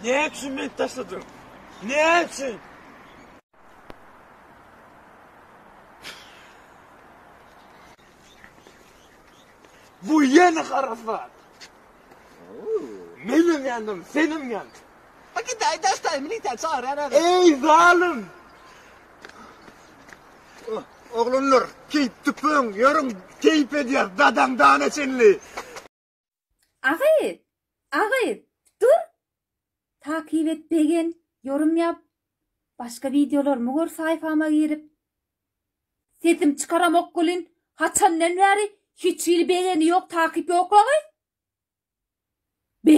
Näme üçin meni taşladyň? Näme üçin? Bu ýene harasat. Menem ýandym, senem ýandy. Bak git ay daş tay militer çağır her adam. Ey zalim! Oglunlar, keyip tüpün, yörün keyip ediyar, dadan dana çenli. Agyz! Agyz! Dur! Takyp et begen, ýorum ýap, başga wideolarymy gör saýfama girip. Sesim çykaramok welin haçandan bäri hiç hili begeni ýok takyp ýok agyz! Be!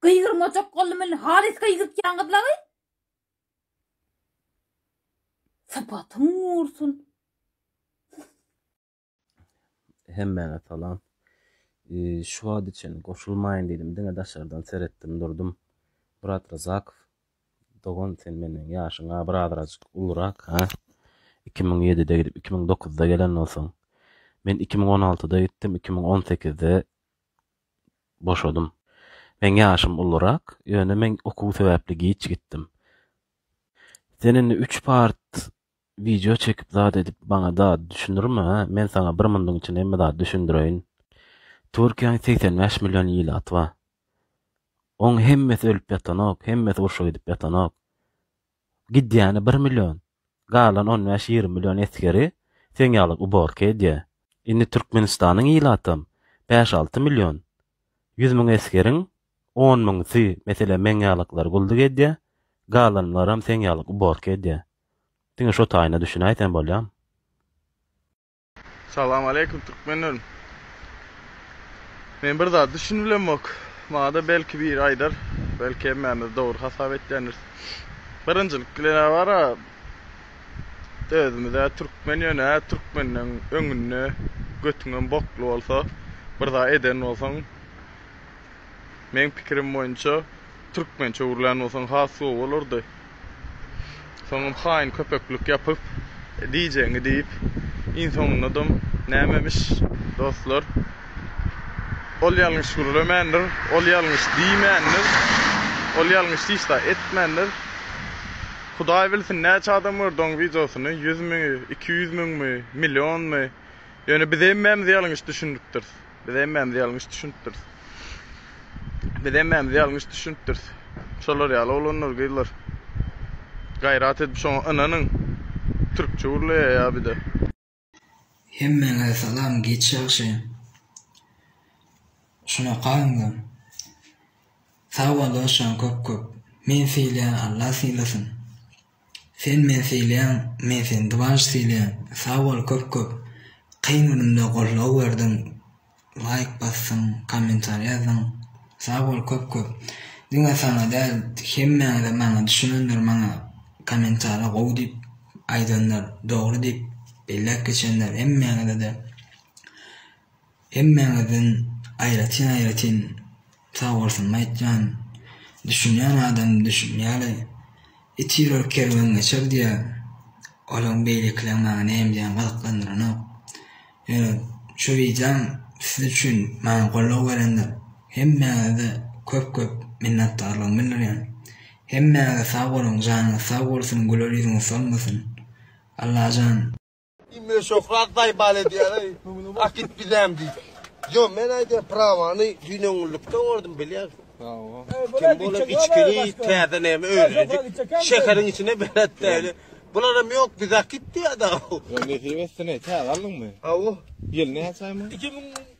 Gygyrmajak boldum welin halys gygyrtýaň gyz agyz! Sypatyň gursun! Hemmäňe salam. Şu wagta çenli goşulmaýyn diýdim, diňe daşardan seretdim durdum. Myrat Ryzakow, dogan sen menden ýaşyň a bir azrajyk ulurak ha. Iki müň ýedide gidip, iki müň dokuzda gelen bolsaň. Men iki müň on altyda gitdim, iki müň on sekizde boşadym. Meň ýaşym ulurak, ýöne men okuw sebäpli giç gitdim. Sen indi üç part Wideo çekip zat edip maňa zat düşündirme hä men saňa bir munduň içinde hemme zat düşündireýin. Türkiýäň segsen bäş million ilaty bar. Oň hemmesi ölüp ýatanok, hemmesi urşa gidip ýatanok. Gidýäni bir million. Galan on bäş ýigrimi million esgeri seň ýaly uborka edýär. Indi Türkmenistanyň ilatam bäş alty million. Ýüz müň esgeriň on müňüsi meselem meň ýalykylary gulduk edýär, galanlaram seň ýaly uborka edýär. Diňe şo taýyna düşünäýsem bolýam. Salam aleýkum Türkmenlerim. Men bir zat düşünibilemok. Maňada belki biri aýdar. Belki hemmämiz dogry hasap etýändiris. Birinjilik bilen a bara özümiz a Türkmen ýöne a Türkmenden öňünde götüňem bokly bolsa bir zat eden bolsaň Meň pikirim boýunça türkmençe öwrülän bolsaň has gowy bolardy. Soňam haýyn köpeklik ýapyp diýjegiňi diýip iň soňundadam nämemiş. Dostlar ol ýalňyş gürlemändir, ol ýalňyş diýmändir, ol ýalňyş hiç zat etmändir. Hudaý bilsin näçe adam gördi oň wideosyny ýüz mi, iki ýüz müňmi, millionmy. Ýöne biz hemmämiz ýalňyş düşünipdiris. Biz hemmämiz ýalňyş düşünipdiris. Biz hemmämiz ýalňyş düşünipdiris. Şolar ýaly oglanlar, gyzlar. Gaýrat edip şoňa ynanyň. Türkçe gürleýär ýa bide. Hemmäňize salam giç ýagşy şunaka indi sag bol dosjan köp köp men sylaýan Allah sylasyn. Sen men sylaýaň men seni dbanj sylaýan sag bol köp köp kyn günümde goldaw berdiň laýk basdyň kommentariý ýazdyň sag bol köp köp diňe saňa däl hemmäňize maňa düşünenler maňa kommentariý gowy diýip aýdanlar dogry diýip belläp geçenler hemmäňizede Hemmäňizden aýratyn-aýratyn sagbolsunymy aýtýan. Düşünýän adam düşünýäli. It ýörer kerwen geçer diýýär. Olaň beýlekileň maňa näme diýýäni gyzyklandyranok. Ýöne şu wideom siz üçin maňa goldaw berendir. Hemmäňize köp-köp minnetdarlygymy bildirýän. Hemmäňize sag boluň janyňyz sag bolsun güler ýüzüňiz solmasyn. Allajan. Ime şöhrat baýbal edýäler. Ak git bizäm diýip. Yo men aýdýan prawany düýn öňlükde gördüm bilýän. Bravo. Kim bolar içkili täze näme öýrendik. Şäheriň içine belet däli. Bular hem ýok biz ak git diýýär da. Yo nesip etsin täze aldyňmy? Awo. Ýyl näçämi? 2000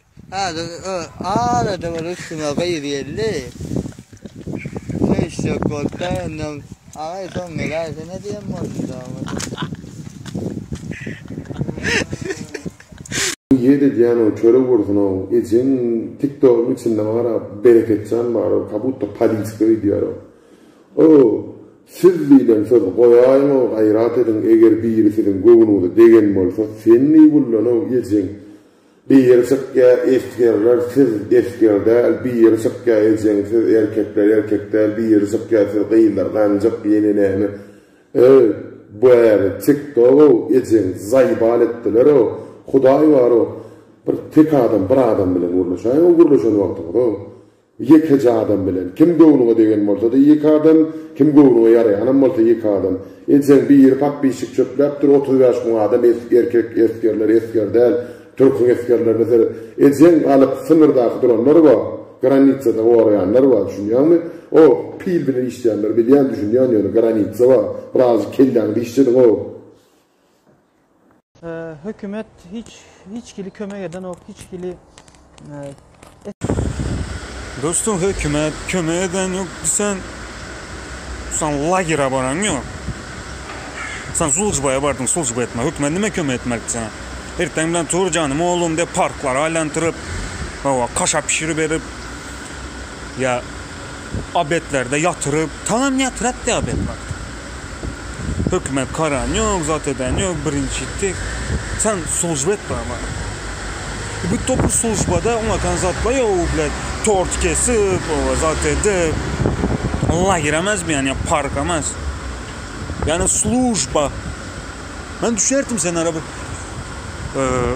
Häzir arada bir üstüme gyz geldi. Söýüşjek bolup-da öňden, Agaý, soň geläýsene diýen boldum dogrusu. Bu ýet edýänow çörek bolsunow ejeň tiktogyň içinde maňa garap Bereketjan barow kabutta politika öýdýärow. Ow siz diýlen söz goýaýyňow gaýrat ediň eger biri siziň göwnüňize degen bolsa sen neý bullanow ejeň. Bir ýeri çykýa esgerler siz esger däl bir ýeri çykýa ejeň siz erkekler erkek däl bir ýeri çykýa siz gyzlar ganjyk ýene näme öý bäri tik togow ejeň zaýbal etdilerow hudaý barow bir tek adam bir adam bilen gürleşäýow gürleşen wagtyňyzow Ýekeje adam bilen. Kim göwnüňe degen bolsa-da ýeke adam, kim göwnüňe ýaraýanam bolsa ýeke adam. Ejeň biri pap-pişik çöpläpdir, otuz bäş müň adam es, erkek esgerler, esger däl, türküň esgerlerine seret. Ejeň galyp symyrdaky duranlar bar, granitsada goraýanlar bar, düşünýäňmi? O, pil bilen işleýänler bilýän, düşünýän ýöne granitsa bar, birazjyk kelläňizi işlediň-ow! Hökümet hiç hiç hili kömek edenok hiç hili Dostum hökümet kömek eden yok sen sen lagera baran yok sen sulcubaya bardın sulcuba etme hökümet nime kömek etmek sana erten bilen tur canım oğlum de parklara aylantırıp hava kaşa pişirip berip ya Obetlerde ýatyryp, taňam ýatyrat diýip obet wagty. Hökümet karan ýok, zat eden ýok, birinji etdi. Sen slujba et baba. Bu topur slujbada oňakan zatlar ýok, u blet tort kesip, oba zat edip. Lager emez bu ýani park emez. Ýani slujba. Men düşerdim sen ara bir. Eee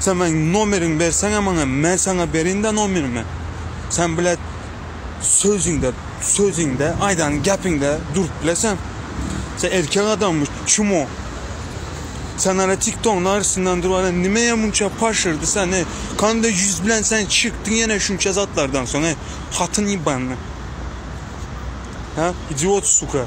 Sen meň nomeriňi berseňä maňa, men saňa berin-dä nomerimi. Sen bilet sözüňde, sözüňde, aýdan gäpiňde durup bile sen. Sen erkek adammy, çumo? Sen ara tiktogyň arasyndan durana nimeýe munça paşyrdy sen, eý? Kanda ýüz bilen sen çykdyň ýene şunça zatlardan soň, eý, hatyn ýybanly. Hä, idiot, suka.